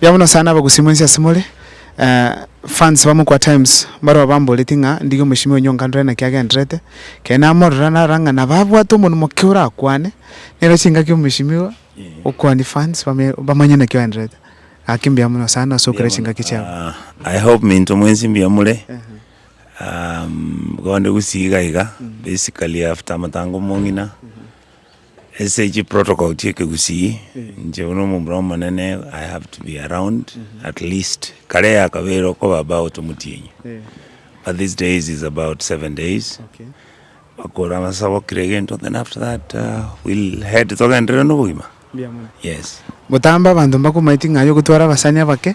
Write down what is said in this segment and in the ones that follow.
Yabo Nyasae nabe gusima ense ase more. Fans ba Mukwa Times mbarabwo bamboreti ng'a ndige omochimi onya onkandorere naki agendererete. Keri namorora narora ng'a nabo abwate omonwa moke orakwane. Nero chingaki omochimi iga okwanie fans bame bamanye naki oendererete. Gaki mbuya mono sana ase okora chingaki chiabo. I hope minto mwensi mbuya more. Bonde gusii iga iga basically after amatango mong'ina Ase chi protocol chia ekegusii, inche buna omomura omonene I have to be around at least kare ya kabere okoba about omotienyi but these days is about seven days bakore amasabo kira egento then after that uh, we'll head togenderere nobogima yes Gotamba abanto mbakomaeti ng'ai ogotwara abasani abake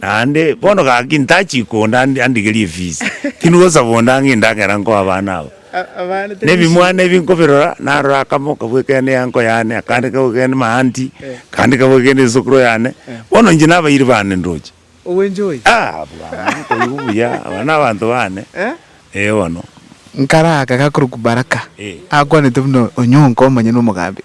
Naende bono gaki ntachi konde andigerie efisi, tindi gosaba onde ang'e endagera nkoe abana aba. Na ebimwana ebi nkobirora, narora akamo okabua kende y'enko yane, akande kabua kende maanti, akande kabua kende esokoro yane, bono inche nabairi bande ndoche. Ah, bwana, nkoigwa buya, aba nabanto bane, ee bono. Nkare aka gakorokwa Baraka, akwanete buna Onyonka omonyene omogambia.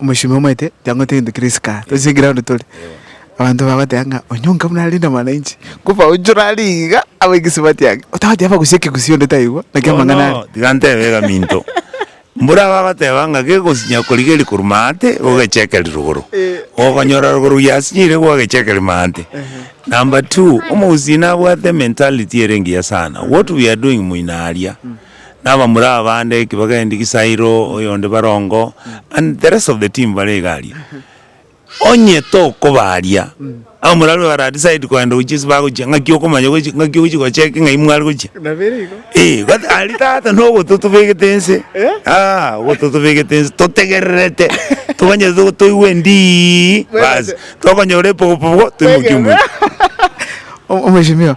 Omochenu omanyete tiang'wete gento keria isiko aa, tochia eground tore. Abanto bagoteba ng'a onye onka buna ararinde mwananchi, koba oichore aria iga abe egesibao atiage, otabati abe agosio ekegusii onde taigwa, naki amang'ana aria. Bono tiga ntebe egaminto, mbore abagoteba ng'a gegosinya korigeria korwa maate gogechekeria rogoro, ogonyora rogoro ruyasinyire gwagechekeria maate. Number two, omogusii nabwate ementality ere engiya sana, what we are doing moino aria. Na abamura abande ki bagendi Kisairo oyonde Barongo and the rest of the team bare iga aria. Onye tokoba aria abamura aria bara decide kogenda gochia ase bagochia ngaki okomanya gochia ngaki ogochia go check ng'ai mware gochia. Eeh but aria tata nogo totobegete nse aah ogo totobegete nse totegererete tomanye to toigwe ndii baasi tokonyora epogopogo toimokie omwero. Mheshimiwa.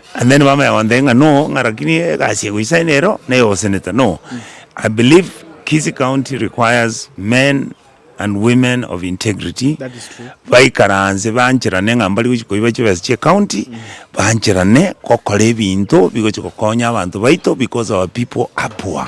And then bamanya gontebia ng'a no ng'a rakini egasi egoisa eye nero neye osenete no I believe Kisii county requires men and women of integrity That is true. baikaranse bancherane ng'a mbari gochi koiba chibesa chie county bancherane gokora ebinto bigochi gokonya abanto baito because our people are poor.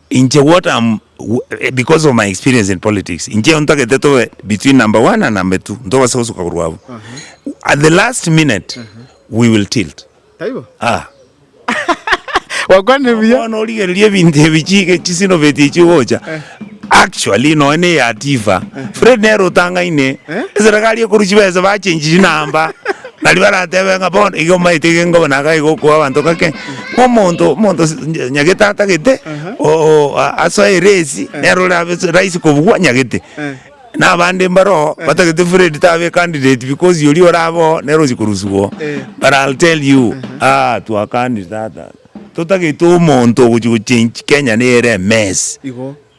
Inche what am because of my experience in politics inche ontagete tobe between number one and number two ntobase gosuka korwa abwo at the last minute we will tilt Taibo? ah Gwakwanire buya. bono origereria ebinto ebi chige chisinovetie chigocha actually nonya ne ya tifa fred nere otang'aine eserekari ekoru chibesa bachenchi chinamba Baria baratebe ng'a, Bono igo omaete iga engobe na agachia gokoa abanto ng'ake, omonto, omonto s- nya- nyagete atagete, o- o- a- asoe eresi, nere orabe s- rahisi kobugwa nyagete. Na abande mbaroo, batagete Fred tabe candidate because oria orabe oo nere ochia koruswa oo. But I'll tell you, ah, twakanirie tata, totagete omonto ogochia gochange Kenya nere emess. Igo.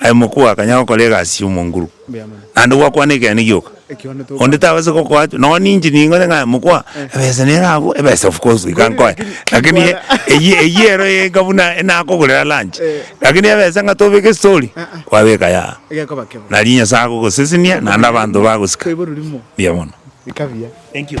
Aye mokuu akanya gokora egasi y'omonguru, naende gwakwana ekeene gioka, onde tabaseti gokoa chio. Nonya ninche nigo onye ng'a mokwa, ebesa nere abwo, ebesa of course goika nkoe, lakini eye eyio eyio ero enka buna enakogorera lunch, lakini ebesa ng'a tobeke estori, kwabeka yaaaa, nari Nyasaye agogosesenia naende abanto bagosika. Mbuya mono. Thank you.